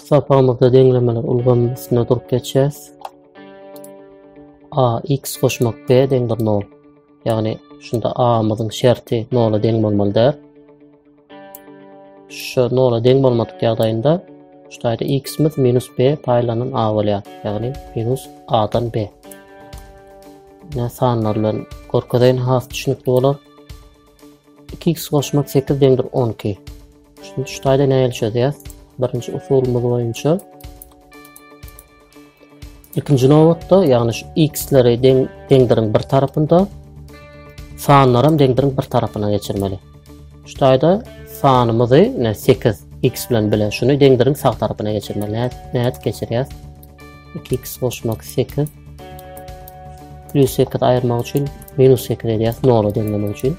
Sapamyzda deňlemeler ulgamynyň üstünde durup geçýäs. A x goşmak b deňdir 0. Ýagny şunda a-myzyň şerti 0-a deň bolmaly däl. Şu nola deň bolmadyk ýagdaýynda şu taýda x-imiz minus b paýlanan a bolýar. Ýagny minus a-dan b. Ýa sanlar bilen görkezeýin has düşünikli bolar. 2x goşmak 8 deňdir 12. Şunu şu taýda nähili çözýäs? Birinji usulymyz boýunça Ikinji nobatda, ýagny şu x-leri deň deňdiriň bir tarapynda, sanlary hem deňdiriň bir tarapyna geçirmeli. Şu taýda sanymyzy, ne 8 x bilen bile şuny deňdiriň sag tarapyna geçirmeli. Nädip geçirýäs? 2x goşmak 8 plus 8 aýyrmak üçin minus 8 edýäs 0 deňlemek üçin.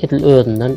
Edil özünden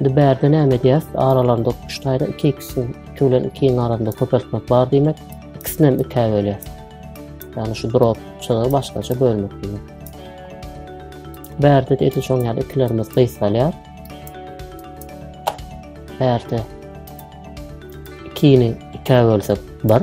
Indi bärde näme edýäs? Aralarynda üç taýda iki ikisini, iki bilen ikiniň arasynda köpeltmek bar diýmek. Ikisini hem ikä bölýäs. Ýagny şu drop çyzygy başgaça bölmek diýmek. Bärde de edil şoň ýaly ikilerimiz gysgalýar. Bärde ikini ikä bölsek bir.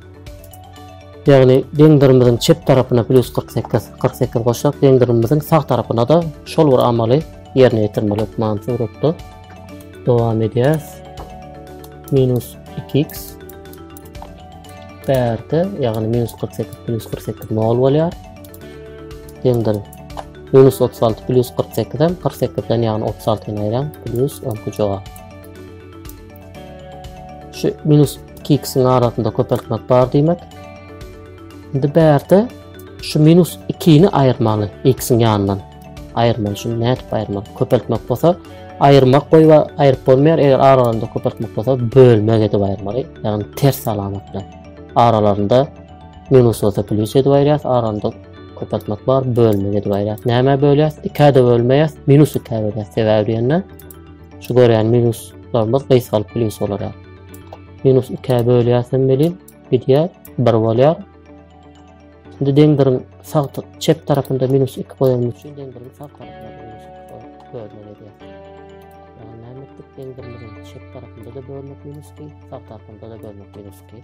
Ýagny deň dyrymyzyň çep tarapyna plýus kyrk sekiz, kyrk sekiz goşsak, deň dyrymyzyň sag tarapyna-da şol bir amaly ýerine ýetirmeli hökman suratda. Dowam edýäs. Minus iki x bärde, ýagny minus kyrk sekiz plýus kyrk sekiz nol bolýar. Deňdir. Minus otuz alty plýus kyrk sekizem kyrk sekizden ýagny otuz altyny aýraň plýus on iki jogap. Şu minus 2x-iň arasynda köpeltmek bar diýmek. Indi bärde şu minus 2-ni aýyrmaly x-iň ýanyndan. Aýyrmaly şuny nädip aýyrmaly? Köpeltmek bolsa aýyrmak goýba aýryp bolmaýar. Eger aralarynda köpeltmek bolsa bölmek edip aýyrmaly. Ýagny ters alamat bilen. Aralarynda minus bolsa plyus edip aýyrýas. Aralarynda köpeltmek bar, bölmek edip aýyrýas. Näme bölýäs? 2-ä bölmeýäs, minus 2-ä bölýäs. Sebäbi diýende Şu görýän minuslarymyz gysgalyp plyus bolar. Minus 2-ä bölýäsem welin gidýär, 1 bolýar. Şimdi deňdiriň sag çep tarafynda minus 2 goýan üçin deňdiriň sag tarafynda minus 2 goýan bölünen edýär. Yani näme etdik? Deňdirimizin çep tarafynda da bölmek minus 2, sag tarafynda da bölmek minus 2.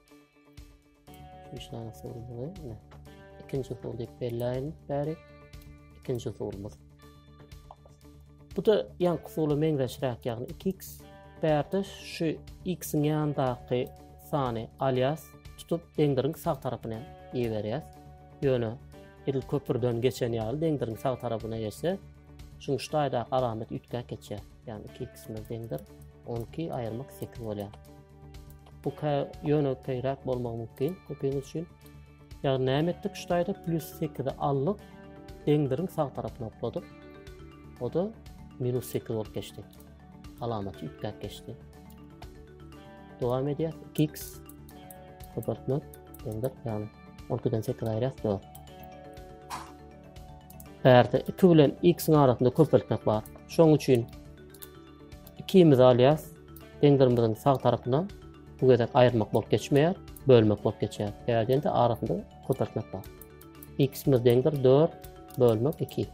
3 dana sorumuz ikinci usul diýip belläýin bäri ikinji usulymyz bu da yan usula meňzeşräk ýagny 2x bärde şu x-iň ýandaky sany alýas tutup deňdiriň sag tarapyna iberýäs ýöne edil köprüden geçen ýaly deňdiriň sag tarapyna geçse şuň şu taýdaky alamat üýtgäp geçýär ýagny 2x-imiz deňdir 12 aýyrmak 8 bolýar Bu kä ýöne keýräk bolmagy mümkin köpüň üçin. Ýagny näme etdik şu taýda plus 8-i aldyk, deňdiriň sag tarapyna okladyk. O da minus 8 bolup geçdi. Alamaty üýtgäp geçdi. Dowam edýär. 2x köpeltmek deňdir, ýagny 12-den 8 aýyrýas 4. Bärde 2 bilen x-iň arasynda köpeltmek bar. Şoň üçin Ikimiz alýas. Deňzerimiziň sag tarapyna bu gezek aýyrmak bolup geçmeýär, bölmek bolup geçýär. Sebäbi diýende arasynda köpeltmek bar. X-imiz deňdir 4 bölmek 2.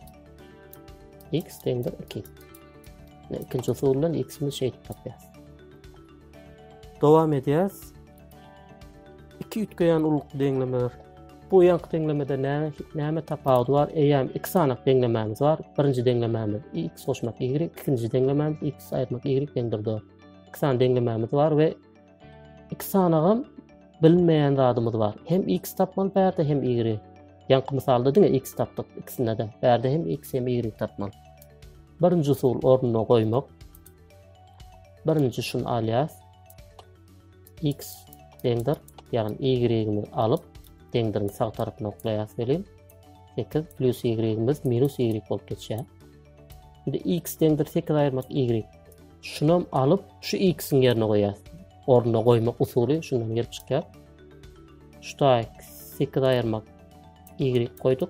X deňdir 2. Ikinci usul bilen X-imiz şeýdip tapýas. Dowam edýäs. Iki üýtgeýän ullukly deňlemeler. Bu ýaňky deňlemede näme tapawudy bar? Eýýäm iki sanak deňlemämiz bar. Birinji deňlemämiz x goşmak y, ikinji deňlemämiz x aýyrmak y deňdir d. Iki sany deňlemämiz bar we iki sanagam bilinmeýän zadymyz bar. Hem x tapmaly bärde hem y. Ýaňky mysalda diňe x tapdyk ikisinde-de. Bärde hem x hem y tapmaly. Birinji usul ornuna goýmak. Birinji şuny alýas. x deňdir. Ýagny y-miz alyp, deňdiriň sag tarapyny oklaýas welin, 8 plus y-miz minus y bolup geçýär. Indi x deňdir 8 aýyrmak y. Şunam alyp, şu x-iň ýerine goýýas. Ornuna goýmak usuly şundan gelip çykýar. Şu taýy 8 aýyrmak y goýduk.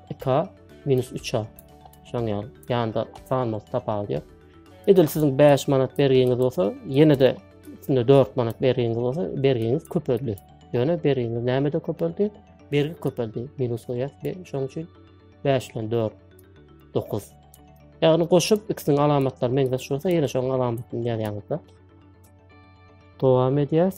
2a minus 3a şoň ýaly ýanda sanymyzy tapaldy ýok edil siziň 5 manat bergiňiz bolsa ýene de üstünde 4 manat bergiňiz bolsa bergiňiz köpeldi ýöne bergiňiz näme de köpeldi bergi köpeldi minus goýýas be şoň üçin 5 bilen 4 9 ýagny goşup ikisiniň alamatlaryny meňzeş bolsa ýene şoň alamatyny ýazýaňyzda dowam edýäs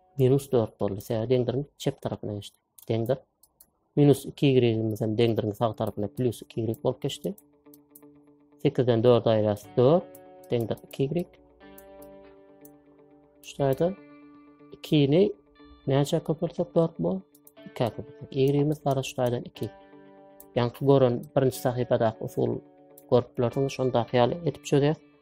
Minus dört boldy. Sebäbi deňdiriň çep tarapyna geçdi. Deňdir. Minus iki ýigrigimiz hem deňdiriň sag tarapyna plyus iki ýigrik bolup geçdi. Sekizden dört aýras dört. Deňdir iki ýigrik. Şularda ikini näçe köpürtsek dört bol. İki köpürtsek. Ýigrigimiz gara şulardan iki. Ýaňky gören birinci sahypadaky usul görüp bilersiňiz. Şondaky ýaly edip çözýär.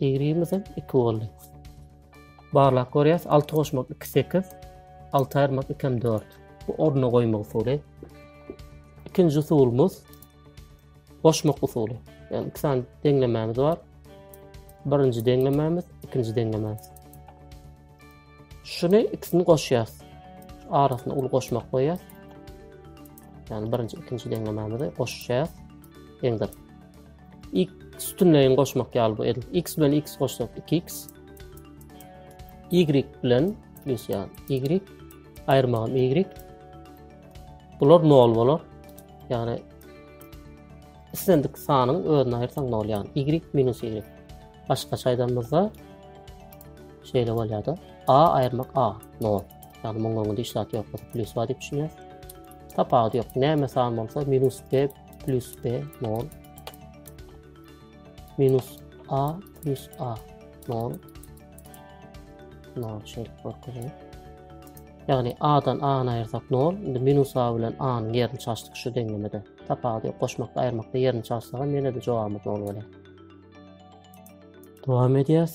Ýigrimiz hem iki boldy. Barlap görýäs, alty goşmak iki sekiz, alty aýyrmak ikem dört. Bu ornuna goýmak usuly. Ikinji usulymyz goşmak usuly. Yani iki sany deňlemämiz bar. Birinji deňlemämiz, ikinji deňlemämiz. Şunu ikisini goşýas. Arasyna uly goşmak goýýas. Yani birinji, ikinji deňlemämizi goşýas. Deňdir. X sütünleýin goşmak ýaly bu edil. X bilen X goşsak 2X. Y bilen plus ýaly Y. Aýyrmagam Y. Bular 0 bolar. Ýagny islendik sanyň özüni aýyrsaň 0 ýagny Y minus Y. Başga çaýdanmyzda şeýle bolýar-da. A aýyrmak A 0. Ýagny muňa öňde işlat ýok. Plus bar diýip düşünýär. Tapawudy ýok. Näme san bolsa minus B plus b nol minus a plus a nol nol şeýle görkezýär. Ýagny a-dan a-ny aýyrsak nol, indi minus a bilen a-nyň ýerini çalşdyk şu deňlemede. Tapawudy goşmakda, aýyrmakda ýerini çalsak hem ýene-de jogabymyz nol bolýar. Dowam edýäs.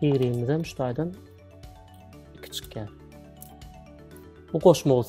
Y-ymyzam şu taýdan iki çykýar. Bu goşma bolsa.